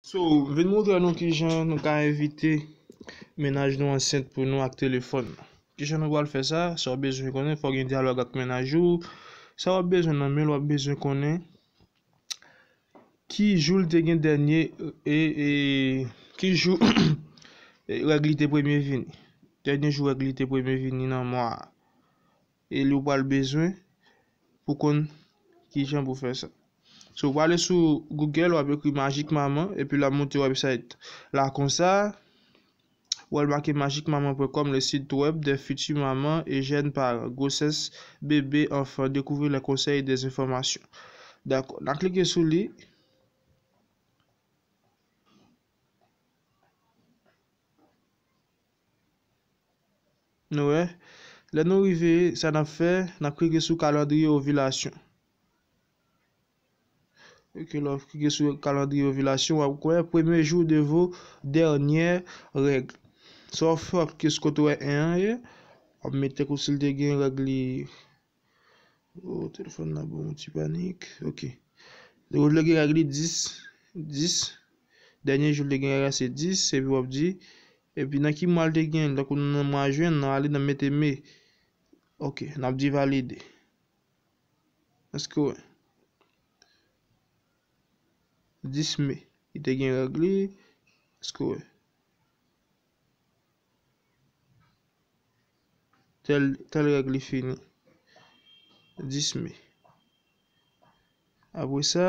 So, vin moutre nou kijan nou ka evite mennaj nou ansent pou nou ak telefòn. Kijan nou pral fè sa? Sa w bezwen konnen, fò w gen dyalòg ak mennaj ou. Sa w ap bezwen nan men l, w ap bezwen konnen ki jou l te gen dènye e, e ki jou règ li te premye vini. Dènye jou règ li te premye vini nan mwa a. E li ou pral bezwen pou konn kijan pou fè sa. So ou pale sou Google wap ekri Magic Maman epi la monte website la konsa. Wèl make magicmaman.com le site web des futures mamans et jeunes parents, grossesse, bebe, enfant, découvrir les conseils et des informations. Dakò, na klike sou li. Nou wè, lè nou rive, sa n ap fè, n ap klike sou kalandriye ovilasyon. Ok, lè w klike sou kalandriye ovilasyon, w ap kwè premye jou de vo dènyè règ. Sa w fè, w ap klike sou kote w wè 1 an ye, w ap mete kousi l te gen règ li. Oh telefòn nan ban yon ti panik ok Li wè vle gen règ li 10 10 Dènye jou l te gen règ la se 10 epi w ap di epi nan ki mwa l te gen tankou nou nan mwa jen nan ale nan mete me ok n ap di valide Èske w wè 10 me li te gen règ li Èske w wè Tèl règ li fini 10 me. Apre sa,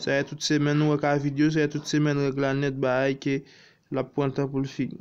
sa yè tout semèn nou wè ka video, sa yè tout semèn règ la nèt ba ay ke l ap pran tan pou l fini.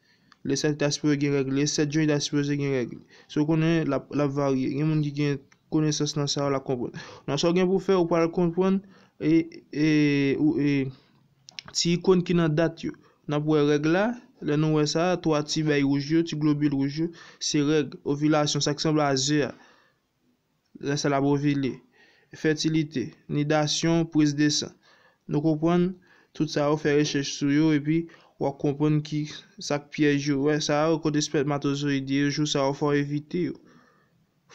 Lè sa li ta sipoze gen règ, lè 7 jan li ta sipoze gen règ. So konnen lap lap varye. Gen moun ki gen konesans nan sa yo la konprann. Nan sa ou gen pou fè ou pral konprann e e ou e ti ikon ki nan dat yo. Nap wè règ la, lè nou wè sa, 3 ti bèy wouj yo, ti globil wouj yo, se règ, ovilasyon, sa ki sanble a ze a. Rès la bovile, fètilite, nidasyon, priz de san. Nou konprann tout sa yo fè rechèch sou yo epi wap konprann ki sak pyèj yo. Wè sa yo kote spètmatozoyid ye yo jou sa yo fòw evite yo.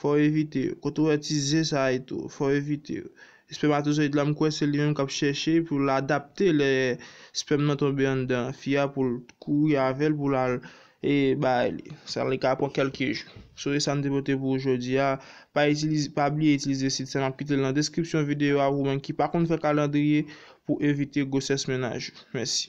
Fòw evite yo. Kote wè ti ze sa et tou, fòw evite yo. Espèmatozoyid la m kwè se li menm kap chèche pou l adapte lè spèm nan tonbe anndan fi a pou l kouri avèl pou l al e bay li sa li ka pran kelke jou so e sam te pote pou ou jodi a pa itilize pa bliye itilize sit sa map kite l nan deskripsyon videyo a ou menm ki pa konn fè kalandriye pou evite gwosès mennaj ou mèsi.